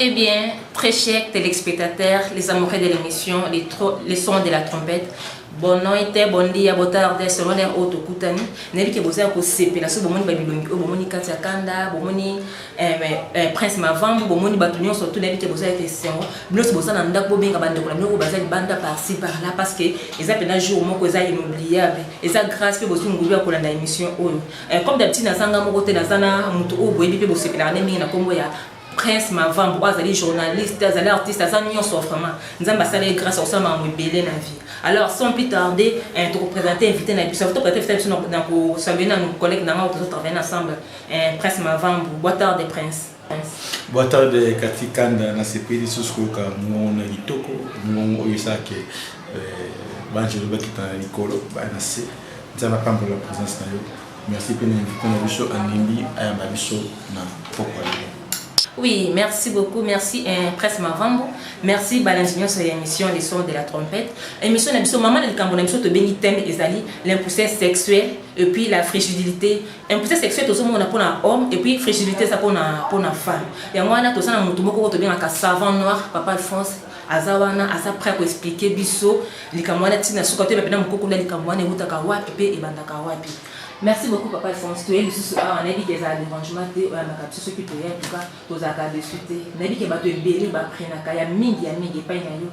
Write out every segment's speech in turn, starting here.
Eh bien, très chers téléspectateurs, les amoureux de l'émission, les, les sons de la trompette, bono ete bondi ya botarde selon heure oyo tokutani nayebi ke boza ya kosepela soki bomoni babilongi oyo bomoni kati ya kanda bomoni Eh, mais, eh, prince mavambu bomoni bato nyonso tuna yebi te boza ete esengo binosi boza na ndako bobenga bandeko na bino oyo baza libanda parci par là parce que eza mpena jour moko eza inoubliable eza grâce mpe bozwi ngulu ya kolanda émission oyo eh, comme d'habitude nazanga moko te naza na moto oyo boyebi mpe bosepelaka nde mingi na nkombo ya prince mavambu oyo azali journaliste azali artiste aza nyonso vraiment nzambe asala ye grâce akosala makambo ebele na vie alors sans plus tarder eh, tokopresente invité na biso topresente invité na biso na kosalue na collègue na ngai oyo tozotravaille ensemble Eh, prince mavambu boa tarde prince boa tarde kati kanda nasepeli lisusu koyoka mongongo na kitoko mongongo oyo esalaki eh, banjelo bakita na likolo baya na se nzambe apambola présence na yo merci mpe na invité na biso anembi ayamba biso na pokwa lelo Oui, merci beaucoup. Merci, hein, Presse Mavambo. Merci, Balangignon, sur l'émission Les Sons de la Trompette. Émission, l'émission, maman, le Cameroun, l'émission, te béni thème, ezali, l'impuissance sexuelle, et puis la frigidité, Impuissance sexuelle tozomona mpo na homme et puis frigidité eza mpo na mpo na femme yango wana toza na motu moko oyo tobengaka savant noir papa alphonse aza wana aza prêt koexplike biso likambo wana ntina suka toyeba mpena mokokoli ya likambo wana ewutaka wapi mpe ebandaka wapi merci beaucoup papa alphonse toye lisusu awa nayebi ke ezala derangement te oyambaka biso soki toye antuka tozalaka desu te nayebi ke bato ebele baprenaka ya mingi ya mingi epai na yo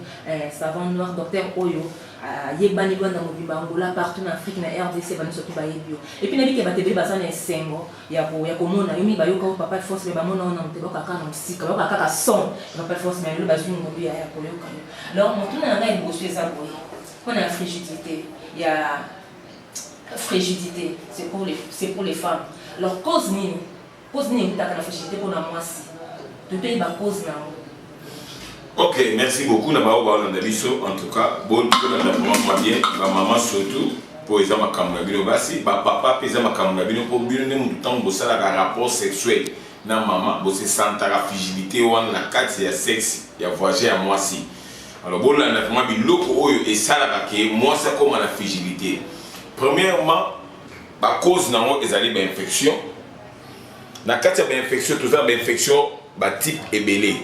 savant noir docteur oyo ayebani rwanda mobimba angola partout na afrique na rdc bani soki bayebi yo epuis nayebi ke bato ebele baza na esengo ya komona yo mingi bayoka yo papa force me bamona ona moto bayoka kaka na mosika bayoka kaka son papa force me lelo bazwi ngolu ya koyoka yo alors motuna na ngai liboso eza boye mpo na frigidité ya frigidité c'est pour les femmes alors cause nini Cause nini ekutaka na société mpo na mwasi? Toteyi ba cause na yango. Ok, merci beaucoup na baoyo balanda biso en tout cas bolanda vraiment mwa bien bamama surtout mpo eza makambo na bino basi bapapa mpe eza makambo na bino mpo bino nde motu ntango bosalaka rapport sexuel na mama bosesantaka frigidité wana na kati ya sexe ya voyage ya mwasi alors bolanda vraiment biloko oyo esalaka ke mwasi akóma na frigidité premièrement Ba cause na yango ezali ba infection. Na kati ya ba infection toza ba infection ba type ebele.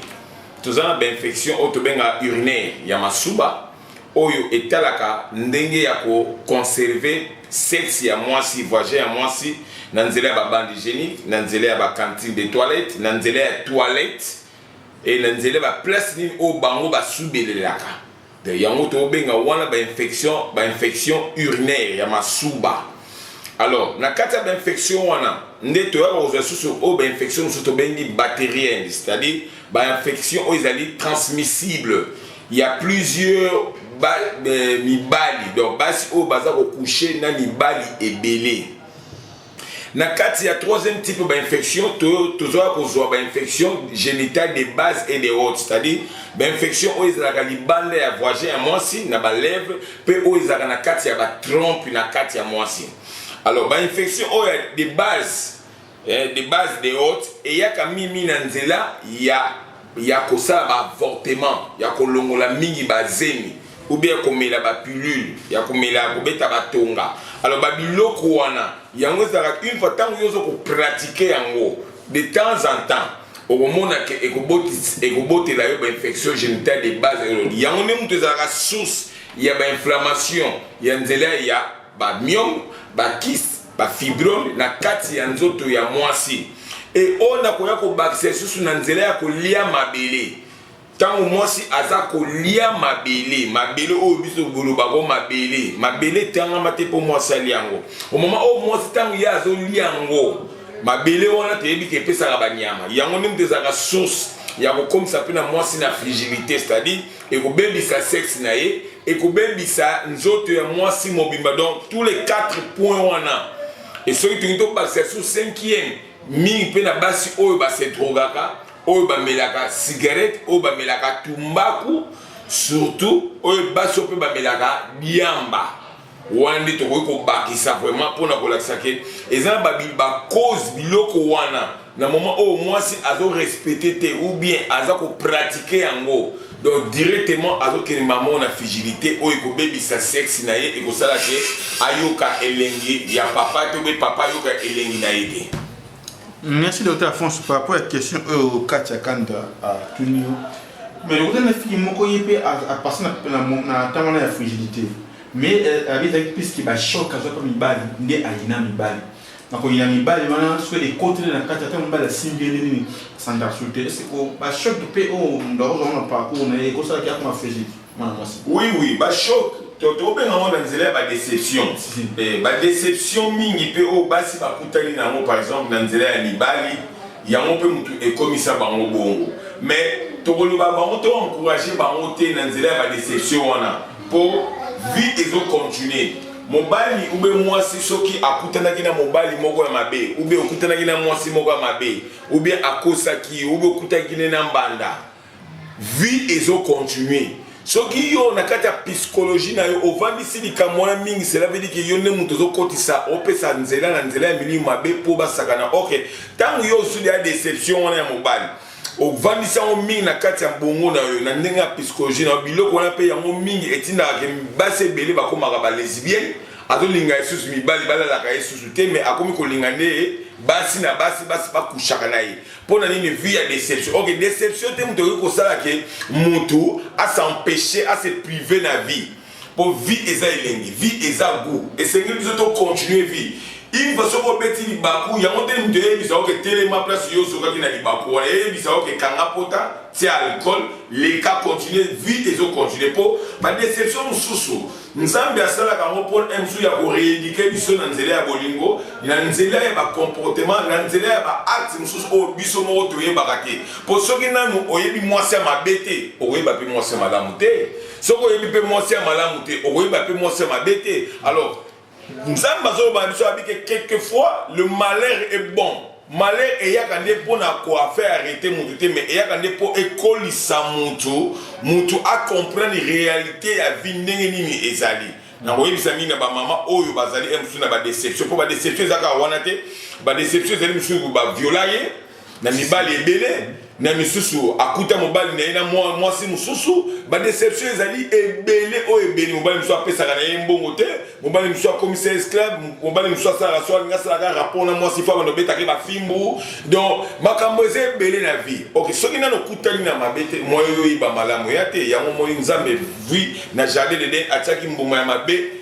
Toza na ba infection oyo tobenga urinaire ya masuba oyo etalaka ndenge ya ko conserver sexe ya mwasi vagin ya mwasi na nzela ya babande hygiénique na nzela ya bacantine de toilette na nzela ya toilette e na nzela ya baplace nini oyo bango basubelelaka Donc yango tobenga wana ba infection ba infection urinaire ya masuba alors na kati ya ba infection wana nde toyaka kozwa lisusu oyo ba infection mosusu tobengi bacterienne c'est à dire ba infection oyo ezali transmissible ya plusieurs ba, eh, mibali donc basi oyo baza kokouche na mibali ebele Na kati ya troisième type ba infection to tozoya kozwa ba infection génitale de base et de haute c'est-à-dire ba infection oyo ezalaka libanda ya voisin ya mwasi na ba lèvres mpe oyo ezalaka na kati ya ba trompe na kati ya mwasi alors ba infection oyo de base eh, de base de haute eyaka mimi na nzela ya ya kosala ba avortement, ya kolongola mingi ba zemi ou bien komela ba pilule, ya komela ya kobeta ba tonga. Alors ba biloko wana yango ezalaka une fois tango yo ozo ko pratiquer yango de temps en temps okomona ke ekobotela yo ba infection génitale de base elodi yango nde moto ezalaka source ya ba inflammation ya nzela ya ba myome ba kisi bafibrome na kati ya nzoto ya mwasi e oyo nakoya kobakisa lisusu na nzela ya kolia mabele ntango mwasi aza kolia mabele mabele oyo biso bolobako mabele mabele etangama te mpo mwasi alia yango omama oyo mwasi ntango ye azolia yango mabele wana toyebi ke epesaka banyama yango nde moto ezalaka source ya kokomisa mpe na mwasi na frigilité c'est-à-dire ekobebisa sexe na ye ekobebisa nzoto ya mwasi mobimba donc tous les 4 points wana e soki tolingi tobakisa su 5e mingi mpe na basi oyo basedrogaka oyo bamelaka cigarette oyo bamelaka tumbaku surtout oyo basi oyo mpe bamelaka diamba wana nde tokoki kobakisa vraiment mpona kolakisa ke eza na bacause biloko wana na moment oyo mwasi azorespecte te ou bien aza kopratike yango donc directement azokende mamo na frigilité oyo ekobebisa sexe na ye ekosala ke ayoka elengi ya papa to mpe papa ayoka elengi na ye te merci docteur afonso par rapport ya question oyo kati ya kanda atuni yo mais lokola na fiki moko ye mpe apasi na ntango wana ya frigilité mais euh, abi ezalaki puisque bachoc azwa mpe mibali nde ayina mibali na koyina mibali wana soki ekoteli na kati ata mobali asimbi ye nini sandarsu te eseko bachoc mpe oyo oh, moto akozwa na parcours na ye ekosalaki akoma fegiki mwana mwasi oui oui bachoc tobenga yango na nzela ya badeception eh, badeception mingi mpe oyo oh, basi bakutani na yango par exemple na nzela ya mibali yango mpe motu ekomisa bango bongo mais tokoloba bango to encourage bango te na nzela ya badeception wana Po vie ezo continuer. Mobali ube mwasi soki akutanaki na mobali moko ya mabe, ube okutanaki na mwasi moko ya mabe, ube akosaki, ube okutaki ne na mbanda. Vie ezo continuer. soki yo na kati ya pisikoloji na yo ovandisi likambo wana mingi selavedi yo nde moto ozokotisa opesa nzela na nzela ya milimu mabe mpo basakana ok ntango yo osudi ya deception wana ya mobali ovandisi yango mingi na kati ya bongo na yo na ndenge ya psychologie na yo biloko wana mpe yango mingi etindaka ke basi ebele bakomaka balesbienne azolinga ye susu mibali balalaka ye susu te me akomi kolinga nde basi na basi basi bakushaka na ye mpo na nini vie ya deception ok deception te moto ekoki kosala ke moto asempeshe ase prive na vie po vie eza elengi vie eza gout esengeli biso to continue vie une fois soki obeti libaku yango nde moto eyebisa yo ke telema place yo ozokaki na libaku wana eyebisa yo ke kanga pota tia alcool leka continue vie ezo continue po badeception mosusu nzambe asalaka yango mpo na mosusu ya koreedike biso na nzela ya bolingo na nzela ya bacomportement na nzela ya baakte mosusu oyo biso moko toyebaka te mpo soki nanu oyebi mwasi ya mabe te okoyeba mpe mwasi ya malamu te soki oyebi mpe mwasi ya malamu te okoyeba mpe mwasi ya mabe te alors nzambe azoloba na biso abi ke quelquefois le malheur est bon malheur eyaka nde mpo na koafaire arrete motu te mais eyaka nde mpo ekolisa motu motu acomprendre réalité ya vie ndenge nini ezali nakoyebisa mingi na bamama oyo bazali mosusu na badeception mpo badeception ezaka wana te badeception ezali mosusu baviola ye na mibali ebele na misusu akuta mobali na ye na mwasi mosusu badeception ezali ebele oyo ebele mobali mosusu apesaka na ye mbongo te mobali mosusu akomisa esclave mobali mosusu asalaka so alingi asalaka rapport na mwasi fo abanda obetaka ye bafimbu donc makambo eza ebele na vie ok soki nano okutani na mabe te moyo oyo oyeba malamu ya te yango moi nzambe vui na jardin de den atiaki mbuma ya mabe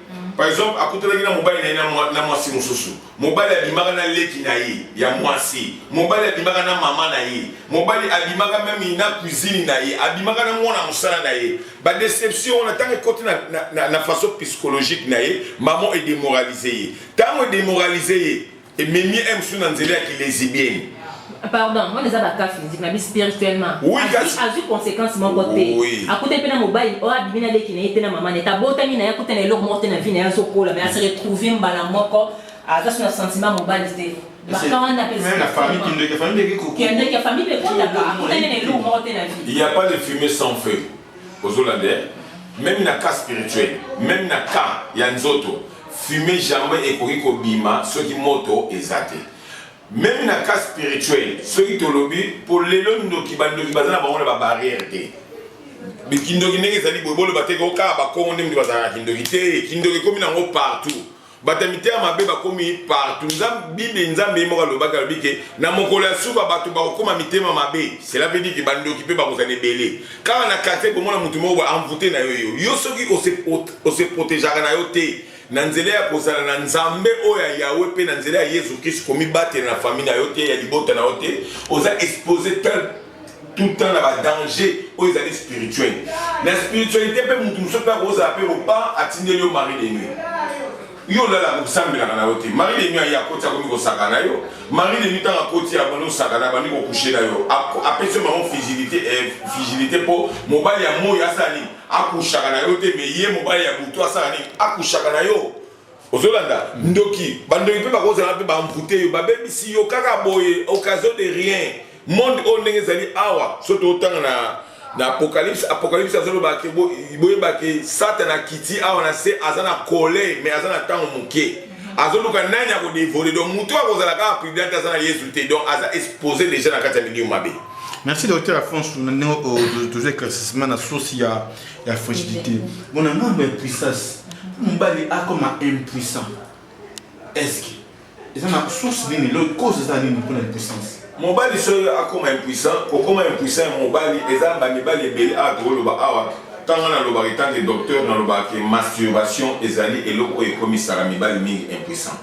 Par exemple, akutanaki na mobali na ye na mwasi mosusu. Mobali abimaka na leki na ye ya mwasi. Mobali abimaka na mama na ye. Mobali abimaka meme na cuisine na ye. Abimaka na mwana mosala na ye. Ba deception wana tango ekoti na, na, na, na façon psychologique na ye, maman edemoralize ye. Tango edemoralize ye, ememi ye mosusu na nzela ya kilezibieni pardon wana eza bakafi nziki na bi spirituellement azwi conséquence moko te akutani mpe na mobali oyo abimi na leki na ye mpe na mama na ye tabotami na ye akuta na eloko moko te na vie na ye azokola mais ase retrouve mbala moko aza so na sentiment mobali te Il n'y a pas de fumée sans feu. ozolanda eh? meme na cas spirituel meme na cas ya nzoto fume jamais ekoki kobima soki moto eza te meme na cas spirituel soki tolobi mpo lelo ndoki bandoki baza na bango na babarrière te kindoki ndenge ezali boye boloba te kaka bakongo nde moto bazalaka kindoki te kindoki ekomi nango partout bato ya mitema mabe bakomi partout bible nzambe ye moko alobaki alobi ke na mokolo ya suka bato bakokoma mitema mabe cela veut dire ke bandoki mpe bakozala ebele kaka na quartier komona moto moko baenvoute na yo yo yo soki ose protegeaka na yo te na nzela ya kozala na nzambe oyo ya yawe mpe na nzela ya yesu kristu komibatela na famille na yo te ya libota na yo te oza expose tout le temps na badange oyo ezali spirituel na spiritualité mpe motu mosusu mpe akozala mpe loba atindeli yo mari de nuit yo olalaka kosambelaka na yo te mari de nuit aye akoti akomi kosaka na yo mari de nuit ntango akoti abandi osaka na abandi kokushe na yo apesi yo bango figilité eh, figilité mpo mobali ya moi asala nini akushaka na yo te me ye mobali ya butu asala nini akushaka na yo Ozolanda ndoki ba ndoki pe bakozala pe ba envoute yo babebisi yo kaka boye occasion de rien monde oyo ndenge ezali awa so totanga na na apocalypse apocalypse azoloba ke boyeba ke satana akiti awa na se aza na kole me aza na ntango moke azoluka nani akodevole donc moto akozala kaka prudent aza na yesu te donc aza expose deja na kati ya milieu mabe merci docteur afonso na ndenge oyo tozo éclaircissement na sosi ya ya frigidité bon na ngambo ya puissance mobali akoma impuissant estce eza na source nini lo cause eza nini mpona impuissance mobali soki akoma impuissant kokoma impuissant ya mobali eza bamibali ebele awa tokoloba awa ntango nalobaka etanke docteur nalobaka ke masturbation ezali eloko oyo ekomisaka mibali mingi impuissant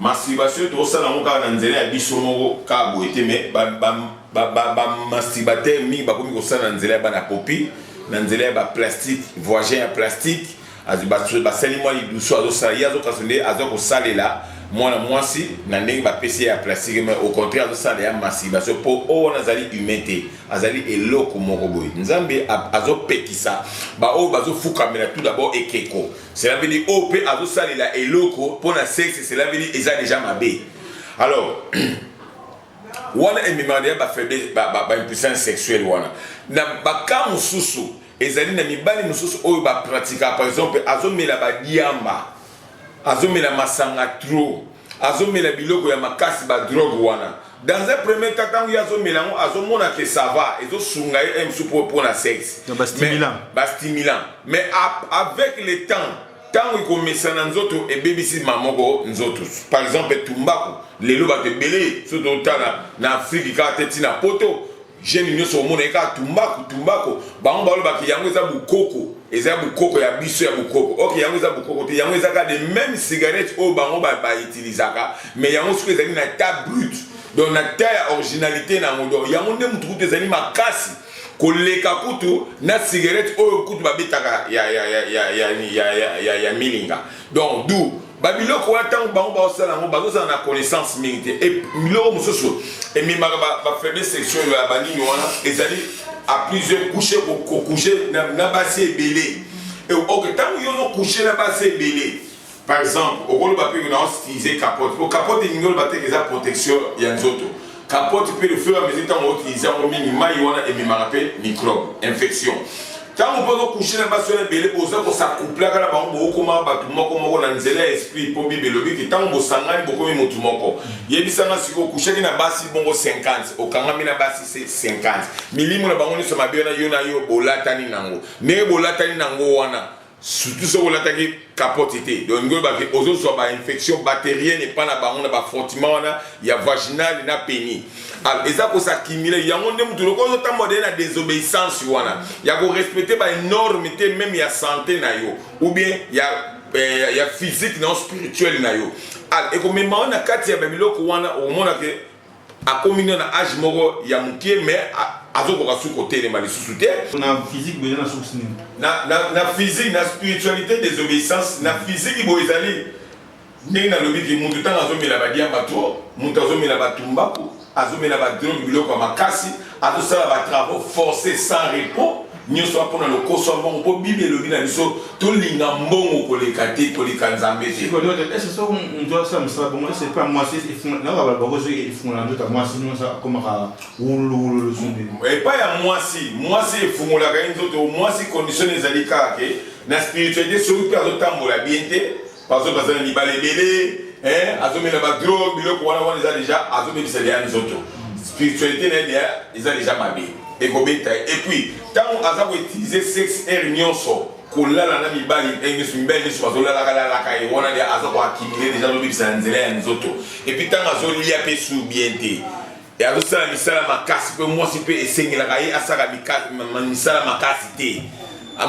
Masturbation to sala ngo kaka na nzela ya biso moko kaka boye te mais ba ba ba ba, ba masturbateur mingi ba komi ko sala na nzela ya bana popi na nzela ya ba plastique voisin ya plastique azo ba ba sali mwa idusu azo sala ye azo kaso nde azo ko salela mwana mwasi na ndenge ba pesi ya plastique mais au contraire azo sala ya masturbation po o wana azali humain te azali eloko moko boye nzambe azo pekisa ba oyo bazo fukamela tout d'abord ekeko Cela veut dire oyo pe azo salela eloko pona sexe cela veut dire eza deja mabe. Alors wana ememaka deja ba faiblesse ba, ba, ba impuissance sexuelle wana. Na ba cas mosusu ezali na mibali mosusu oyo ba pratika par exemple azomela ba diamba azomela masanga trop azomela biloko ya makasi ba drogue wana dans un premier temps tangu azomela yango azomona ke sava ezosunga ye msu po pona sexe bastimulant mais avec le temps ntango ekomesana nzoto ebebisi mamoko nzoto par exemple tumbaku lelo bato ebele soki totala na afriki kaka te ntina poto Jeune nyoso omona eka tumbako tumbako bango baloba ke yango eza bukoko eza ya bukoko ya biso ya bukoko ok yango eza bukoko te yango eza kaka de meme cigarette oyo bango bautilisaka mais yango soki ezali na ta brut donc na ta ya originalité na yango donc yango nde motu kutu ezali makasi koleka kutu na cigarette oyo kutu babetaka ya, ya, ya, ya, ya, ya, ya, ya, ya milinga donc du babiloko wana ntango bango baosala yango bazozala na connaissance mingi te e biloko mosusu ememaka bafaible section ya banini wana ezali a plusieurs couche kokouche na basi ebele ok ntango yo ozokouche na basi ebele par exemple okoloba mpe naostilize capote po capote elingi oloba teke eza protection ya nzoto capote mpe le fur et à mesure ntango otilize yango mingi mai wana ememaka mpe microbe infection ntango mpe ozokushe na basi wana ebele boza kosakuplaka na bango bokokoma bato moko moko na nzela ya esprit mpo bible elobi ke ntango bosangani bokomi motu moko yebisanga sikoyo okushaki na basi bongo 50 okangami na basi 50 milimo na bango nyonso mabe wana yo na yo bolatani nango ndenge bolatani nango wana surtout soki olataki capote te donc lingi oloba ke ozo zua ba infection bacterienne epa na bango na ba frottiment wana ya vaginale na peni alors eza ko s'accumuler yango nde mutu loko ozo tambola de na desobeyissance wana ya ko respecter ba norme te meme ya santé na yo ou bien ya eh, ya physique na yo spirituel na yo alors ekomema yo na kati ya ba biloko wana okomona ke akomi na na age moko ya mukie mais azokoka su kotelema lisusu te na physique boye na source nini na, na, na physique na spiritualité désobéissance na physique boye ezali ndenge nalobi ki mutu ntango azomela badiamba to mutu azomela batumbaku azomela badrogue biloko ya makasi Azosala ba travaux forces sans repos nyonso wana mpona lokoso ya mbongo mpo bible elobi na biso tolinga mbongo koleka te koleka nzambe te ese soko moto asala mosala bongo ese mpe mwasi naka bala bango soki efungolaka nzoto ya mwasi nyonso akomaka wululuwululu zumbi epai ya mwasi mwasi efungolaka ye nzoto mwasi condition ezali kaka ke na spiritualité soki mpe azotambola bien te bazo baza na mibale ebele eh, azomela badrogue biloko wana wana eza deja azobebisa deya nzoto spiritualité na ye deya eza deja mabe ekobeta ye epuis ntango aza koutilize sexe aire nyonso kolala na mibali ndenge nyonso mibali nyonso bazolalaka lalaka ye wana deya aza koakimile deja azobebisa na nzela ya nzoto epuis ntango azolia mpe sur bien te Ye azosala misala makasi mpe mwasi mpe esengelaka ye asala misala makasi te.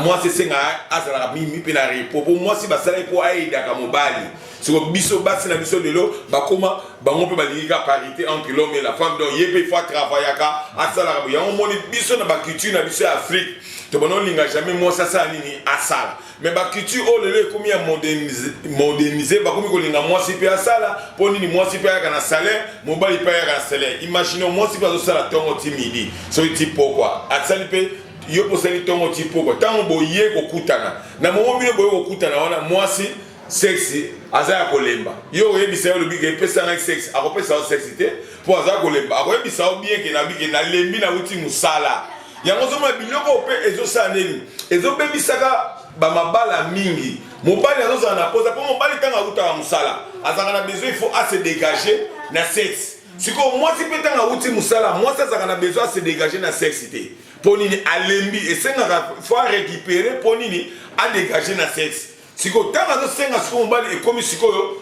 Mwasi esengaka azalaka mingi mpe na repo mpo mwasi basalaki mpo ayedaka mobali. Siko biso basi na biso lelo bakoma bango mpe balingi ka parité entre l'homme et la femme donc ye mpe faut atravaillaka asalaka yango moni biso na baculture na biso ya Afrique tobanda olinga jamais mwasi asala nini asala Mais ba culture oyo lelo ekomi ya modernise, modernise bakomi kolinga mwasi mpe asala mpo nini mwasi mpe ayaka na salaire mobali mpe ayaka na salaire imagine mwasi mpe azosala ntongo ti midi soki ti pokwa asali mpe yo mpe osali ntongo ti pokwa ntango boye kokutana na momo bino boye kokutana wana mwasi sexi aza ya kolemba yo oyebisa yo olobi ke epesa ngai sexi akopesa yo sexi te mpo aza kolemba akoyebisa yo bien ke nabi ke nalembi nauti mosala yango ozomona biloko oyo mpe ezosala nini ezobebisaka bamabala mingi mobali azozala na posa mpo mobali ntango awutaka mosala azalaka na besoin ifo ase dégage na sexe sikoyo mwasi mpe ntango awuti mosala mwasi azalaka na besoin ase dégage na sexe te mpo nini alembi esengaka fo arécupere mpo nini adégage na sexe Siko tanga azo senga siko mobali ekomi sikoyo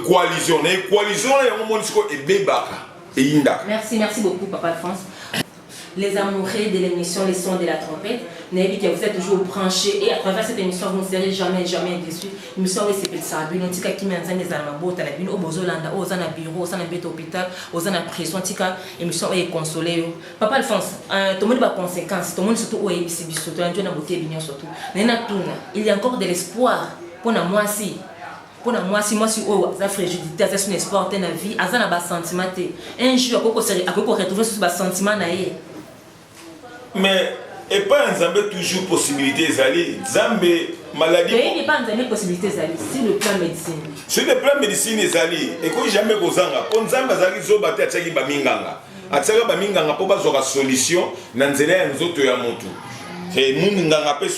coalition na coalition wana yango moni sikoyo ebebaka eyindaka. Merci merci beaucoup papa Alphonse. Les amoureux de l'émission Les Sons de la Trompette, nayebi que vous êtes toujours branchés et à travers cette émission vous ne serez jamais jamais déçus. Émission oyo esepelisaka bino tika kimia ya nzambe ezala mabota na bino oyo bozolanda oyo oza na bureau oza na mbeto hôpital oza na prison tika émission oyo ekonsole yo Papa Alphonse, euh, tomoni ba conséquences, tomoni surtout oyo ayebisi biso, toyandi na botebi nyonso tu. Naye natuna, il y a encore de l'espoir mpo na mwasi mpo na mwasi mwasi oyo aza frigidité aza suna espoir te na vie aza na basentiment te un jour akoki koretrouve susu basentiment na ye mais epai ya nzambe toujours possibilité ezali nzambe maladie mais pas nzambe possibilité ezali sur le plan médecine sur le plan médecine ezali ekoki jamais kozanga mpo nzambe azalaki zoba te atiaki baminganga atisaka baminganga mpo bazwaka solution na nzela ya nzoto ya motu eh, munganga mpe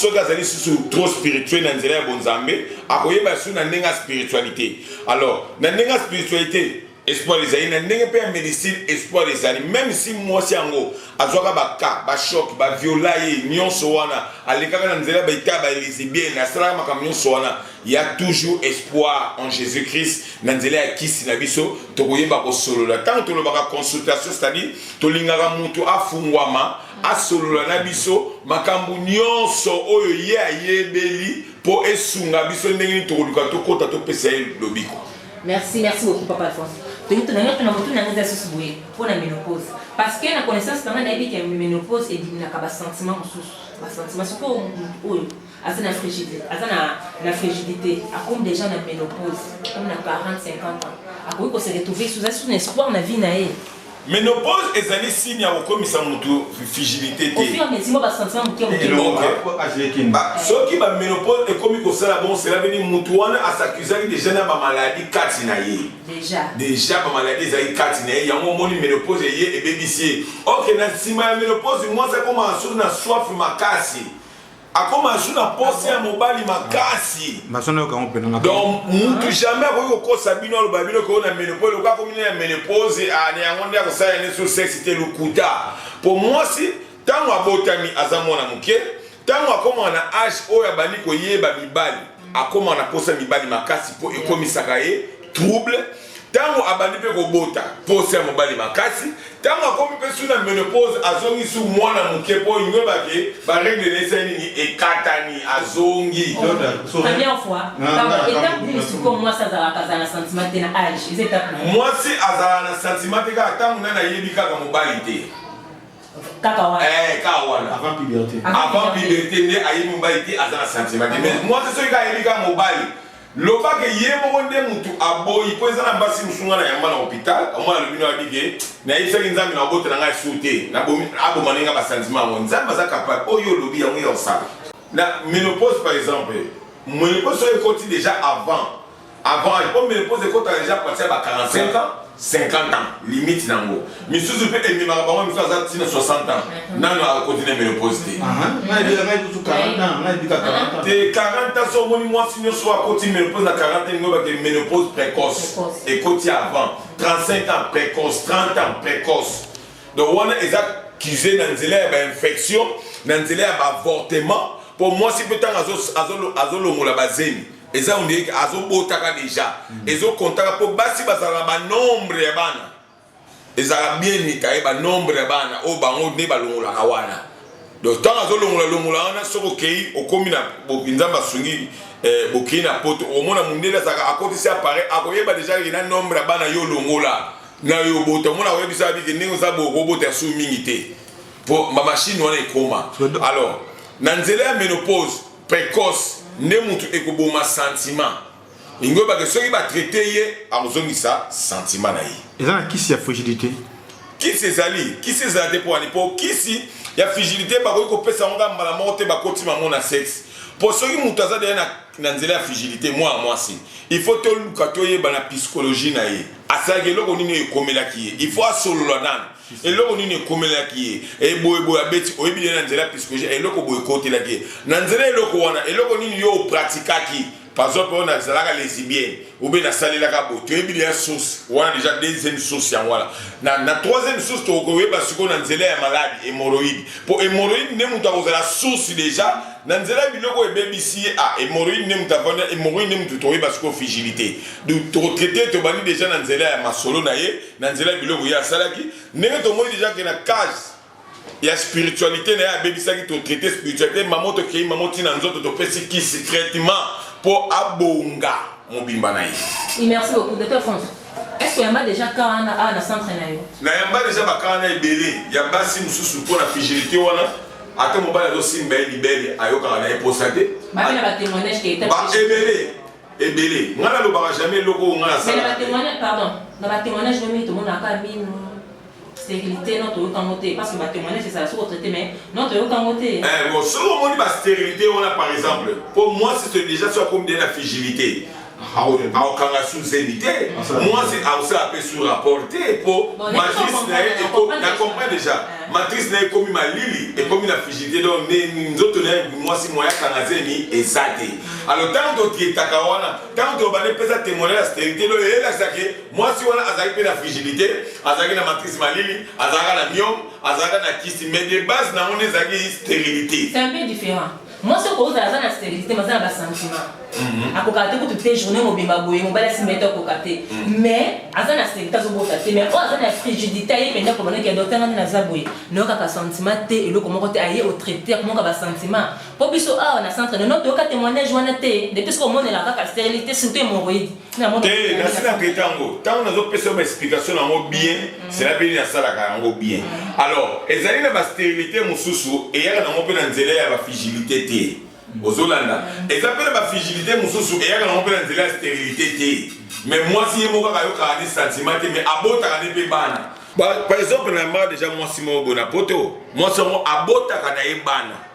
soki azali susu trop spirituel na nzela ya bonzambe akoyeba su na ndenge ya spiritualité alors na ndenge ya spiritualité espoir ezali na ndenge mpe ya médecine espoir ezali même si mwasi yango azwaka baka bashock baviola ye nyonso wana alekaka na nzela baita ya baelisibiene asalaka makambo nyonso wana Il y a toujours espoir en Jésus-Christ. Na nzela ya kisi na biso tokoyeba kosolola. Tango tolobaka consultation, c'est-à-dire tolingaka mutu afungwama asolola na biso makambo nyonso oyo ye ayebeli mpo esunga biso ndenge nini tokoluka tokota topesa ye lobiko. Merci, merci beaucoup papa Alphonse. Toyi tunanga tuna mutu na ngeza susu boye mpo na menopause. Parce que na connaissance na ngai nayebi que menopause ebimaka ba sentiments mosusu. Ba sentiments sikoyo oyo aza na frigidité aza na na frigidité akomi déjà na ménopause comme na 40 50 ans akoki ko se retrouver sous un espoir na vie na ye ménopause ezali signe ya kokomisa moto frigidité te soki baménopause ekomi kosala bon cela veut dire moto wana asakizaki déjà na bamaladi kati na ye déjà bamaladi ezali kati na ye yango omoni ménopause eye ebebisi ye ok na nsima ya ménopause mwasi akomaka soki na soif makasi akoma su na posa ya mobali makasi maso nayoka yango mpena donc mutu jamais akoki kokosa bino aloba bino koo na menopose lokola akomi na menopose ah, na yango nde akosala yane sur sexe te lokuta mpo mwasi ntango abotami aza mwana moke ntango akoma na age oyo abandi koyeba mibali akoma na posa mibali makasi mpo ekomisaka ye trouble Tango abandi pe kobota posa ya mobali makasi, tango akomi pe su na menopause azongi su mwana muke po ingweba ke ba regle na ye esali nini ekatani azongi. Première fois pardon etape nini sikoyo mwasi azalaka azala na sentiment te na age eza etape nini? Mwasi azala na sentiment te kaka tango nani ayebi kaka mobali te. Kaka wana. Eh kaka wana. Avant puberté. Avant puberté nde ayebi mobali te aza na sentiment te mais mwasi soki kaka ayebi kaka mobali Loba ke ye moko nde mutu aboyi po eza na basi musu nga na yamba na hopital omona alobi na wabi ke nayebisaki nzambe na obotela ngai sur te nabomi aboma nde nga ba sentiment yango nzambe aza capable oyo olobi yango ya osala na menopause par exemple menopause oyo ekoti deja avant avant po menopause ekotaka deja partir ya ba 45 ans 50 ans limite na ngo misusu pe ememaka bango misusu aza tina 60 ans mhm. nano akoti na menopause te te 40 ans so omoni mwasi nyonso oyo akoti menopause na 40 ans ngobake menopause précoce ekoti avant 35 ans précoce 30 ans précoce donc wana eza kize na nzela ya bainfection na nzela ya baavortement mpo mwasi mpe ntango azolongola bazemi eza ondire ke azobotaka deja mm. ezokontaka mpo basi bazala na banombre ya bana ezalaka bien nitaye banombre ya bana oyo bango nde balongolaka wana donc ntango azolongola longola wana soki okei okomi na nzambe asungi eh, bokei na poto omona mondele azalaka akotisi appareil akoyeba deja ye na nombre ya bana yo olongola na yo obota omona akoyebisa abike ndenge oza bokobota ya su mingi te mpo bamashine wana ekoma alors na nzela ya menopause precoce nde mutu ekoboma sentiment lingi oyebake soki ba traite ye akozongisa sentiment na ye eza na kisi ya frigidite kisi ezali kisi ezala te mpo wani mpo kisi ya frigidite bakoki kopesa yango kaka mbala moko te bakoti bango na sexe mpo soki moto aza deya na, na nzela ya frigidite mwana mwasi il faut toluka toyeba na psychologie na ye asalaki eloko nini oyo ekomelaki ye il faut asolola nanu eloko nini ekomelaki ye eboyeboye eh, abeti oyebi ye na nzela piskoje eloko boye ekotelaki ye na nzela eloko wana eloko nini yo opratikaki par exemple oyo nazalaka lesibienne obe nasalelaka boye toyebi deya source wana deja deuxième source yango wana na, na troisième source tokoyeba sikoyo na nzela ya maladi hémoroïde mpo hémoroïde nde moto akozala source deja na nzela ya biloko ebebisi ye ah, hémoroïde nde moto avanda hémoroïde nde moto tokoyeba sikoyo frigilité donc tokotraite tobandi deja na nzela ya masolo na ye na nzela ya biloko ye asalaki ndenge tomoni deja ke na case ya spiritualité na ye abebisaki totraite spiritualité mamo tokei mamo ntina nzoto topesi kisi traitement mpo abonga mobimba na ye merci beaucoup docteur france est-ce que yamba déjà ka wana awa na centre na yo na yamba déjà baka wana ebele ya basi mosusu mpo na frigilité wana ata mobali azosimba ye libele ayokaka na ye mposa te ebele ebele ngai nalobaka jamais eloko oyo ngai nasalaapardonna batémoignage mimi tomonaka mino stérilité no toyoka yango te parce que batémoignage ezala soko traité mais no toyoka yango te eh, bon soki omoni bastérilité wana par exemple mpo mwasi soki déjà soki akomi de na figilité aokanga suzeni te mwasi aosala mpe sur rapport te mpo matrice na ye na comprend déjà matrice na ye ekomi malili ekomi na figilité donc nzoto na ye mwasi moya kanga zemi eza te alo ntango tokietaka wana ntango tobandi mpeza temoignage ya sterilité loyo elakisa ke mwasi wana azalaki mpe na frigidité azalaki na matrice malili azalaka na miome azalaka na kisi mais de base na yango nde ezalaki sterilité c'est un peu différent mwasi okozala aza na sterilité mais aza na basentiment mhm. akokaka te kutu te journée mobimba boye mobali asimba ye te akoka te mhm. mais aza na sterilité azobota te mais oyo aza na frigidité aye mpenza kobanda ke docteur ngani naza boye nayokaka sentiment te eloko moko te aye otraite akomoka basentiment Po biso awa na centre nono toyoka temoignage wana te depuis soko omonela kaka sterilite surtout hemorroïde te nasi na traite yango ntango nazopesa yo baexplication na yango bien mm. sela mpe nasalaka yango bien mm. alors ezali na basterilite mosusu eyaka nango mpe na nzela ya bafigilité te mm. ozolanda eza mpe na bafigilité mosusu eyaka nango mpe na nzela ya sterilite te me mwasi ye moko kaka ayokaka nde sentiment te me abotaka nde mpe bana par exemple na ma deja mwasi moko boye na poto mwasi yango abotaka na ye bana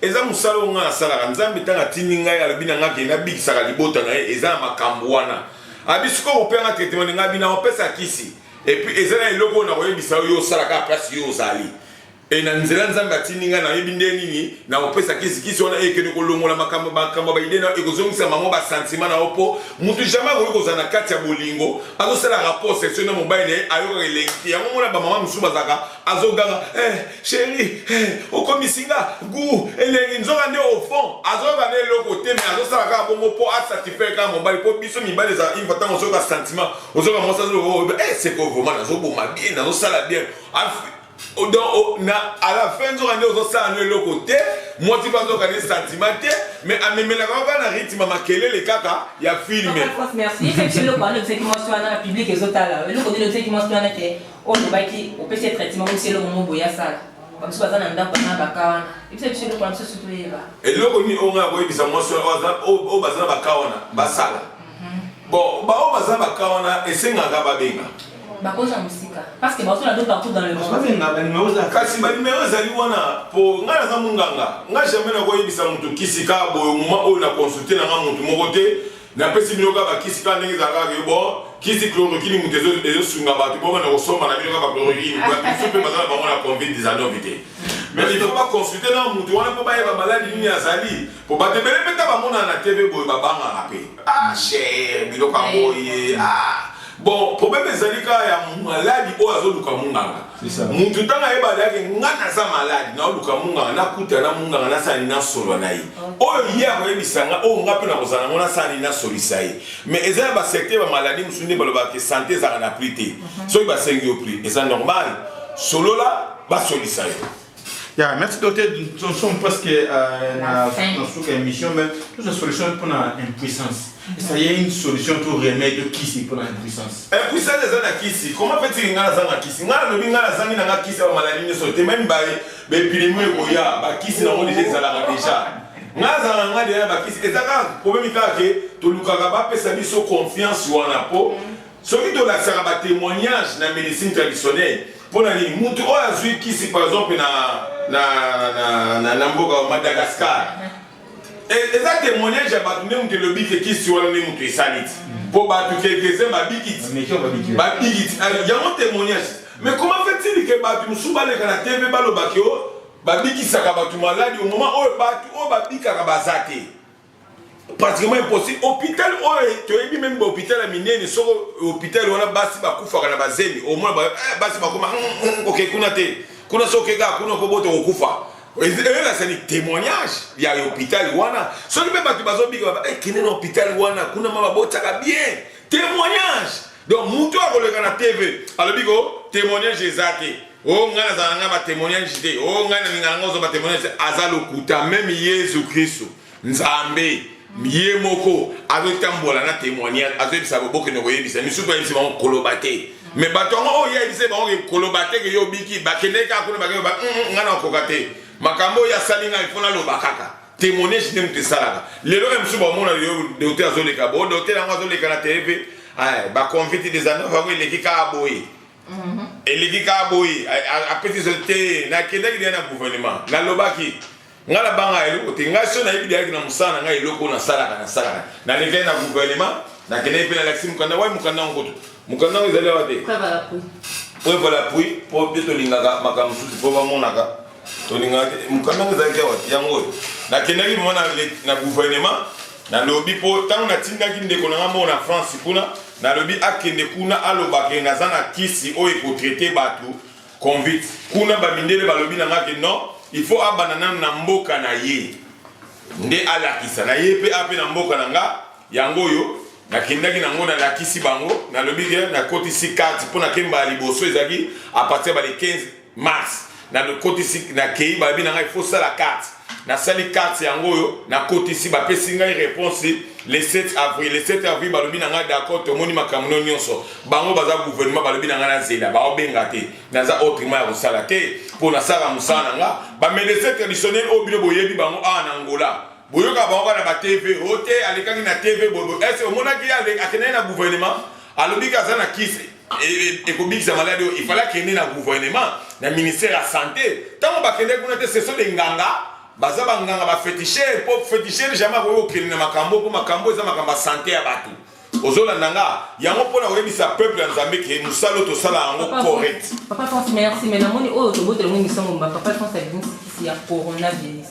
eza mosala oyo ngai nasalaka nzambe ntango atindi ngai alobi na ngai ke nabikisaka libota na ye eza na makambo wana abi sikoyo ope yanga traitement ndenge abi nakopesa kisi epuis eza na eloko oyo nakoyebisa yo yo osalaka place yo ozali e na nzela nzambe atindi ngai nayebi nde nini nakopesa kisi kisi wana ekende kolongola makambo makambo ya baide na yo ekozongisa bango basantima na yo mpo motu jamai akoki kozala na kati ya bolingo azosala rapport sexuel na mobali na ye ayokaka elengi te yango mona bamama mosusu bazalaka azoganga eh, sheri eh, okomisi nga gu elengi nzoka nde au fond azoyoka na eloko te me azosala kaka bongo mpo asatisfaire kaka mobali mpo biso mibali eza une fois ntango ozoyoka sentiment ozoyoka mwasi azoloba eh, seko vraiment nazoboma bien nazosala bien Oh, donc oh, na à la fin nzoka nde ozosala no eloko te mwasi mpe azoka ne sentiment te mais amemelaka yo kaka na rythme ya makelele kaka ya filme merci eloko wana olobisaki mwasi wana na publike ezotala eloko nini olobisaki mwasi wana ke olobaki opesi ye traitement omisi eloko moko boye asala bamosusu baza na ndako na baka wana ebisa biso eloko na biso sutu toyeba eloko nini oyo ngai akoyebisa mwasi oyo baza na baka wana basala mhm. bon baoyo baza na baka wana esengaka babenga bakozwa mosika parceke baotola do partout dans le mondekasi banimero ezali wana mpo ngai naza monganga ngai jamai nakoyebisa moto kisika boye moma oyo na consulte na ngai motu moko te Na pesi bino kaka ba kisi kaka ndenge ezalaka kaka yo bon kisi chloroquine moto ezo ezo sunga bato bo banda kosomba na bino kaka chloroquine ba biso pe baza na bango na covid 19 te mais il faut ba consulter na moto wana po bayeba maladi nini azali po bato ebele pe ta bamonana na TV boye babangaka pe ah cher biloko yango ye ah Bon, problème ezali kaka ya maladi oyo azoluka munganga. Mutu ntango ayebali yake nga naza maladi, naoluka munganga, nakuta na munganga nasala nini nasolola na ye. Oyo ye akoyebisa nga, oyo nga mpe nakozala nango nasala nini nasolisa ye. Mais eza ya ba secteur ba maladi mosusu nde balobaka ke sante ezalaka na prix te. Soki basengi yo prix, eza normal, solola basolisa yo. Yeah, merci docteur. Nous sommes presque euh, dans la émission, mais toute la solution pour l'impuissance. Et ça y est, une solution pour remède qui c'est pour l'impuissance. Impuissance, c'est la kisi. Comment fait-il que ngala zanga kisi? Ngala lobi ngala zangi na ngala kisi ba maladie ne sote même ba ba epidemie ko ya ba kisi na ngoli déjà la déjà. Ngala zanga ngala déjà ba kisi. Et ça quand problème il que tu lukaka ba pesa biso confiance wana po. Mm -hmm. Soki tolakisaka ba temoignages na medecine traditionnelle mpo na nini mutu oyo azwi kisi par exemple na, na, na, na, na mboka wa Madagascar e, eza temoignage ya bato nde moto elobi ke kisi wana nde moto esali ti mpo bato quelques-uns babikiti babikiti yango temoignage Mais comment fait-il que batu mususu baleka na TV balobaki o babikisaka batu maladi au moment oyo batu oyo babikaka baza te pratiquement impossible hôpital oyo toyebi meme ba hôpital ya minene soko hôpital wana basi bakufaka na bazemi au moins eh, basi bakoma hmm, hmm, oke kuna te kuna soki okeka kuna okobota kokufa ezali témoignage ya hôpital wana soki mpe bato bazobika baba eh, kende na hôpital wana kuna ma babotaka bien témoignage donc moto akoleka na tv alobi ko témoignage eza te Oh ngai nazala na ngai ba témoignage te oh ngai nalinga na ngai ozwa ba témoignage te aza lokuta meme yesu kristu nzambe ye moko azotambola na témoignage azoyebisa bokende koyebisa misusu bayebisi bango koloba te me bato yango oyo yayebisa bango koloba te ke yo obiki bakendeki kaka kuna bakeba mm, mm, ngai nakoka te makambo oyo asali ngai mpo naloba kaka témoignage nde moto esalaka lelo oyo mosusu bamona lelo dote azoleka bo dote yango azoleka na tv baconviti des anova yango eleki kaka boye Mhm. eleki kaka boye apesi so te nakendaki deya na gouvernement nalobaki ngai nabanga eloko te ngai so nayebi deyaki na mosala na ngai eloko oyo nasalaka nasalaka nalekaki na gouvernement nakendaki mpe nalakisi mokanda wai mokanda yango kutu mokanda yango ezali awa te preuve à l'appui mpo mpe tolingaka makambo mosusu mpo bamonaka tolingaka te mokanda yango ezalaki awa te yango oyo nakendaki mona na gouvernement nalobi mpo ntango natindaki ndeko na ngai moko na france kuna Nalobi akende kuna aloba ke naza na kisi oyo eko traiter batu convict kuna ba mindele balobi na nga ke non il faut abanda nanu na mboka na ye nde alakisa na ye pe ape na mboka na nga yango oyo nakendaki na ngo nalakisi bango nalobi ke nakotisi carte pona kemba ya liboso ezalaki a partir ya ba le 15 mars nakotisi nakei bayebi na ngai fosala carte nasali carte yango oyo nakotisi bapesi ngai réponse le 7 avril le 7 avril balobi na ngai d'accord tomoni makambo no nyonso bango baza gouvernement balobi na ngai nazela baobenga te naza autrement ya kosala te mpo nasala mosala na nga bamedecin traditionnel oyo bino boyebi bango awa na ngola boyoka bango kaka na batv o oh, te alekaki na tv bobo ese omonaki ye akendaki na gouvernement alobi ke aza na kisi ekobikisa maladi oyo ifale akende na gouvernement na ministère ya sante ntango bakendaki kuna te seso de nganga baza banganga bafetishere mpo fetishere jamai akoki kokende na makambo mpo makambo eza makambo ya sante ya bato ozolanda nga yango mpo na koyebisa peuple ya nzambe ke mosala oyo tosala yango correct papa france merci mais namoni oyo tobotelango misango mba papa france abimisi kisi ya coronavirus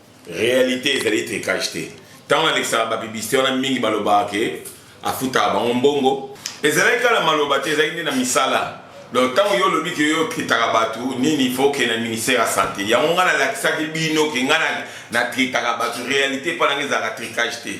Realite ezali tricage te. Tango nalekisaka ba publicite wana mingi balobaka ke afutaka bango mbongo. Ezalaki kaka na maloba te, ezalaki nde na misala. Donc tango yo olobi ke yo tritaka batu nini il faut okende na ministère ya sante. Yango nga nalakisaki bino ke nga na tritaka batu realite epa na nga ezalaka tricage te.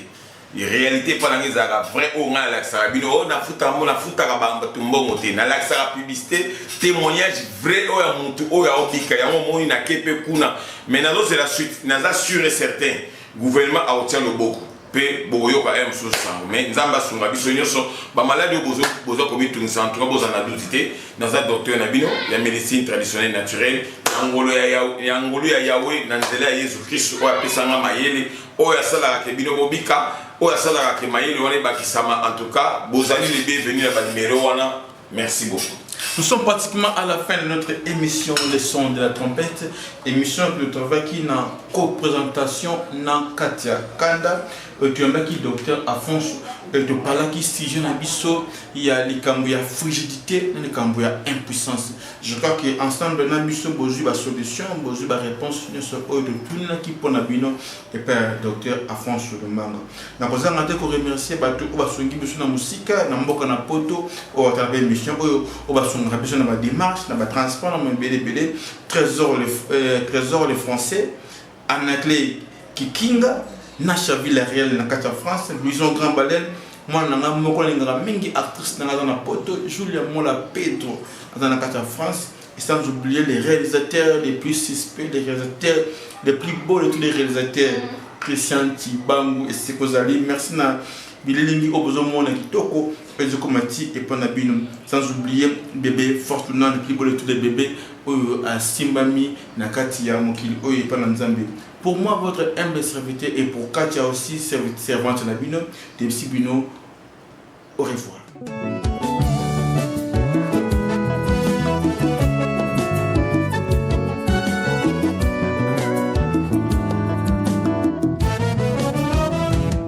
realite epa nanga ezalaka vrai oyo ngai nalakisaka bino oyo nafuta yango nafutaka bato mbongo te nalakisaka publicité témoignage vrai oyo ya motu oyo aobika yango omoni nake mpe kuna mais nazozela suite naza sûr et certain gouvernement akotia loboko mpe bokoyoka ya mosusu sango mais nzambe asunga biso nyonso bamaladi oyo boza komitungisa antuka bozala na duti te naza docteur na bino ya médecine traditionnelle naturelle na ngolu ya yawe na nzela ya yesu kristu oyo apesanga mayele oyo asalaka ke bino bobika oyo asalaka ke mayele wana ebakisama en tout cas bozali le bienvenu na banimero wana merci beaucoup Nous sommes pratiquement à la fin de notre émission Les sons de la trompette, émission que nous travaillons qui na co-présentation na Katia Kanda, euh, tu as qui docteur Afonso, et tu parles qui sujet na biso, il y a les ya frigidité, les ya impuissance. Je crois que ensemble na biso bozwi ba solutions, bozwi ba réponses nyonso oyo totunaki mpo na bino epai ya docteur Afonso Lumbanga. Nakozanga te ko remercier bato oyo basungi biso na mosika na mboka na Poto oyo atala ba émission oyo oyo basungaka biso na ba démarches, na ba transports na mabele ebele, Trésor le, euh, Trésor le français Anaclet Kikinga, Nasha Villarreal na kati ya France, Louison Grand Baleine, mwana na ngai moko alingaka mingi actrice na ngai aza na Poto, Julia Mola Pedro aza na kati ya France, et sans oublier les réalisateurs les plus suspects, les réalisateurs les plus beaux de tous les réalisateurs, Christian Tibangu et Sekozali. Merci na bililingi oyo bozomona kitoko ezokoma ti epa na bino sans oublier bebe fortuna le plus beau de tous les bebe oyo asimbami na kati ya mokili oyo epa na nzambe pour moi votre humble serviteur et pour katia aussi servante na bino tebisi bino au revoir